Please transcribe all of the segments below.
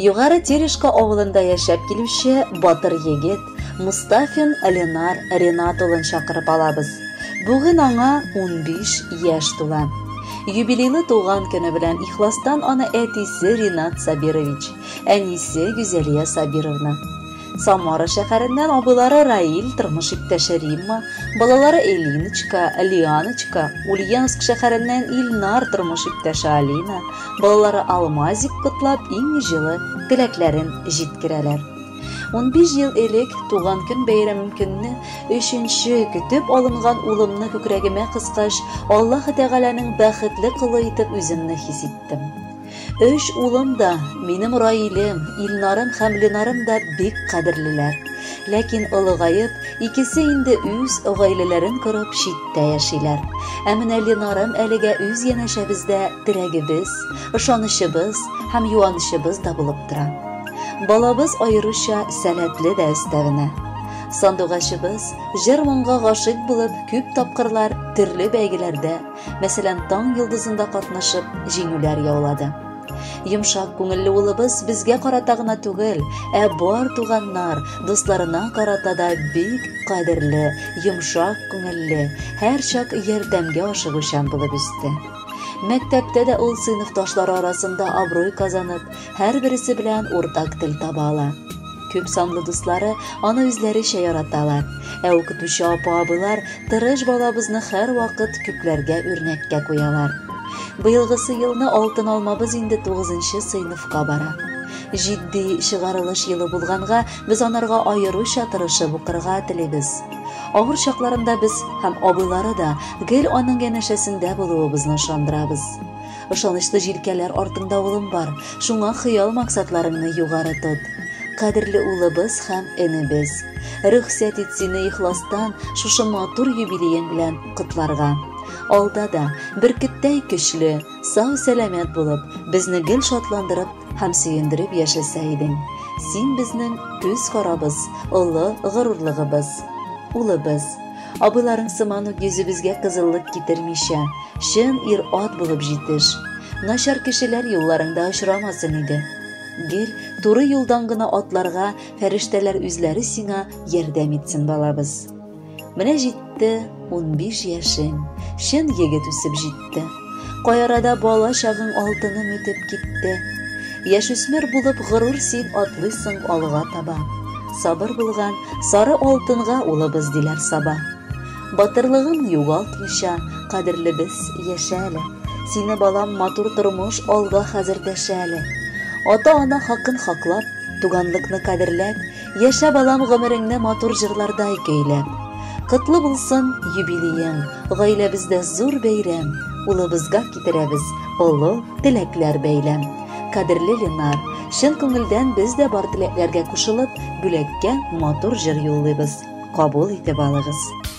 Югары Терешка авылында яшәп килүче батыр егет Мустафин Ленар Ренат улын чакырып алабыз. Бүген аңа 15 яшь тула. Юбилейлы туган көне белән ихластан аны әтисе Ринат Сабирович, әнисе Гүзәлия Сабировна. Самара шәһәреннән абыйлары Раил, тормыш иптәше Римма, балалары Элиночка, Лианочка, Ульяновск шәһәреннән Ильнар, тормыш иптәше Алина, балалары Алмазик котлап иң җылы теләкләрен җиткерәләр. 15 ел элек туган көн бәйрәмем көнне өченче көтеп алынган улымны күкрәгемә кыскач, Аллаһы Тәгаләнең бәхетле колы итеп үземне хис иттем. Өч улым да, минем Раилем, Илнарым һәм Ленарым да бик кадерлеләр. Ләкин олыгаеп, икесе инде үз гаиләләрен корып читтә яшиләр. Ә менә Ленарым әлегә үз янәшәбездә терәгебез, ышанычыбыз һәм юанычыбыз да булып тора. Балабыз аеруча сәләтле дә өстәвенә. Сандугачыбыз җыр-моңга гашыйк булып күп тапкырлар төрле бәйгеләрдә мәсәлән, таң йолдызында катнашып, җиңүләр яулады. Йомшак күңелле улыбыз безгә карата гына түгел, ә бар туганнар, дусларына карата да бик кадерле, йомшак күңелле, һәрчак ярдәмгә ашыгучан булып үсте. Мәктәптә дә ул сыйныфташлары арасында абруй казанып, һәрбересе белән уртак тел таба ала. Күп санлы дуслары аны үзләречә яраталар. Ә укытучы апа-абыйлар тырыш балабызны һәрвакыт күпләргә үрнәккә куялар. Быелгысы елны алтын алмабыз инде 9нчы сыйныфка бара. Җитди чыгарылыш елы булганга, без анарга аеруча тырышып укырга телибез. Авыр чакларында без һәм абыйлары да гел аның янәшәсендә булуыбызны ышандырабыз. Ышанычлы җилкәләр артыңда улым бар, шуңа хыял-максатларыңны югары тот. Кадерле улыбыз һәм энебез! Рөхсәт ит сине ихластан шушы матур юбилеең белән котларга. Алда да, бөркеттәй көчле, сау-сәламәт булып, безне гел шатландырып һәм сөендереп яшәсә идең. Син безнең күз карабыз, олы горурлыгыбыз. Улыбыз! Абыйларың сыман ук йөзебезгә кызыллык китермичә, чын ир-ат булып җитеш. Начар кешеләр юлларыңда очрамасын иде. Гел туры юлдан гына атларга фәрештәләр үзләре сиңа ярдәм итсен, балабыз. Менә җитте унбиш яшең, чын егет үсеп җитте. китте. Каярада бала чагың алтыным итеп китте. Яшүсмер булып горур син атлыйсың алга таба. Сабыр булган сары алтынга улыбыз диләр саба. Батырлыгын югалтмыйча, кадерлебез яшә әле. Сине балам матур тормыш алга хәзер дәшә әле. Ата-ана хакын хаклап, туганлыкны кадерләп, Яшә балам гомереңне матур җырлардай көйләп. Котлы булсын юбилеең, гаиләбездә зур бәйрәм, улыбызга китерәбез олы теләкләр бәйләм. Кадерле Ленар, чын күңелдән без дә бар теләкләргә кушылып, бүләккә матур җыр юллыйбыз. Кабул итеп алыгыз.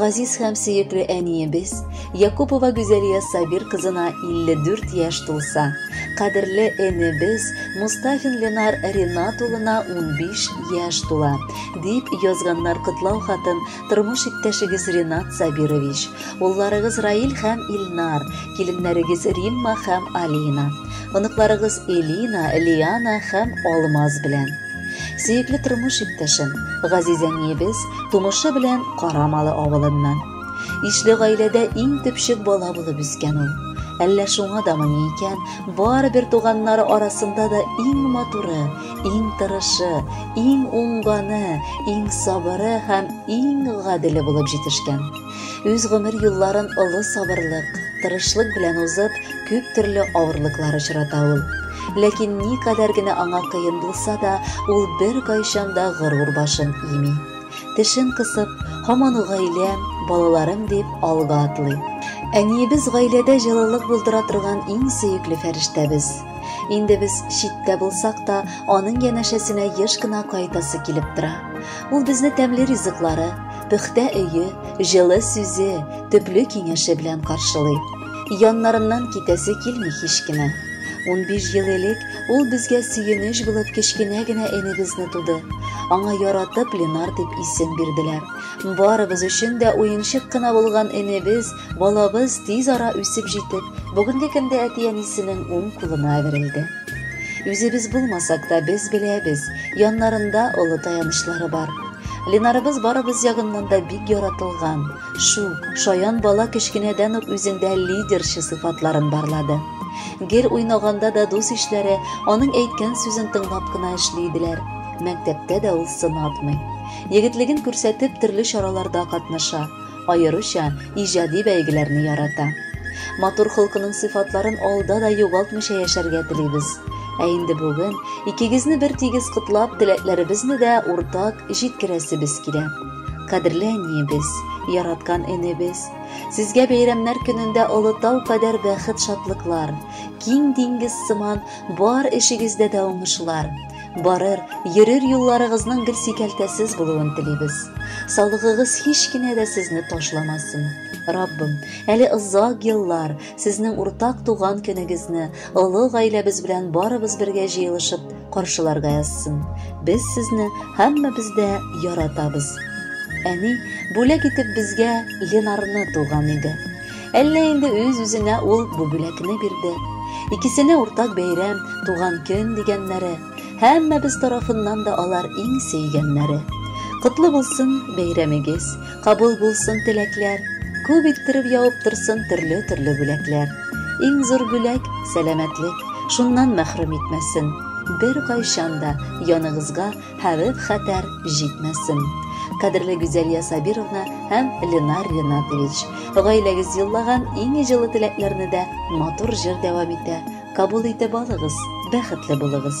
Газиз һәм сөекле әниебез Якупова Гүзәлия Сабир кызына 54 яшь тулса, кадерле энебез Мустафин Ленар Ренат улына 15 яшь тула, дип язганнар котлау хатын тормыш иптәшегез Ренат Сабирович, улларыгыз Раил һәм Илнар, киленнәрегез Римма һәм Алина, оныкларыгыз Элина, Лиана һәм Алмаз белән. Сөекле тормыш иптәшем, газиз әниебез тумышы белән Карамалы авылыннан. Ишле гаиләдә иң төпчек бала булып үскән ул. Әллә шуңа да мыни икән, барыбер туганнары арасында да иң матуры, иң тырышы, иң уңганы, иң сабыры һәм иң гаделе булып җитешкән. Үз гомер юлларын олы сабырлык, тырышлык белән узып, күп төрле авырлыклар очрата ул. Ләкин ни кадәр генә аңа кыен булса да, ул бер кайчан да горур башын ими. Тешен кысып, һаман гаилә, балаларым дип алга атлый. Әниебез гаиләдә җылылык булдыра торган иң сөекле фәрештәбез. Инде без читтә булсак та, аның янәшәсенә еш кына кайтасы килеп тора. Ул безне тәмле ризыклары, пөхтә өе, җылы сүзе, төпле киңәше белән каршылый. Яннарыннан китәсе килми һич кенә. 15 ел элек ул безгә сөенеч булып кечкенә генә энебезне туды. Аңа яратып Ленар дип исем бирделәр. Барыбыз өчен дә уенчык кына булган энебез Балабыз тиз ара үсеп җитеп, бүгенге көндә әти-әнисенең уң кулына әверелде. Үзебез булмасак та без беләбез, яннарында олы таянычлары бар. Ленарыбыз барыбыз ягыннан да бик яратылган, шук, шаян бала кечкенәдән үк үзендә лидерчы сыйфатларын барлады. Гел уйнаганда да дус ишләре аның әйткән сүзен тыңлап кына эшли иделәр. Мәктәптә дә ул сынатмый. Егетлеген күрсәтеп, төрле чараларда катнаша. Аеруча иҗади бәйгеләрне ярата. Матур холкының сыйфатларын алда да югалтмыйча яшәргә телибез. Ә инде бүген икегезне бер тигез котлап, теләкләребезне дә уртак җиткерәсебез килә. Кадерле әниебез, яраткан энебез, сезгә бәйрәмнәр көнендә олы тау кадәр бәхет-шатлыклар, киң диңгез сыман бар эшегездә дә уңышлар, Барыр, йөрер юлларыгызның гел сикәлтәсез булуын телибез. Саулыгыгыз һич кенә дә сезне ташламасын. Раббым, әле озак еллар сезнең уртак туган көнегезне олы гаиләбез белән барыбыз бергә җыелышып каршыларга язсын. Без сезне һәммәбез дә яратабыз. Әни бүләк итеп безгә Ленарны туган иде. Әллә инде үз-үзенә ул бу бүләкне бирде. Икесенә уртак бәйрәм, туган көн дигәннәре. Һәммәбез тарафыннан да алар иң сөйгәннәре. Котлы булсын бәйрәмегез, кабул булсын теләкләр, күп иттереп явып торсын төрле-төрле бүләкләр. Иң зур бүләк, сәламәтлек, шуннан мәхрүм итмәсен. Бер кайчан да яныгызга Хәвеф хәтәр җитмәсен. Кадерле Гүзәлия Сабировна һәм Ленар Ренатович, гаиләгез юллаган иң җылы теләкләрне дә матур җыр дәвам итә. Кабул итеп алыгыз, бәхетле булыгыз.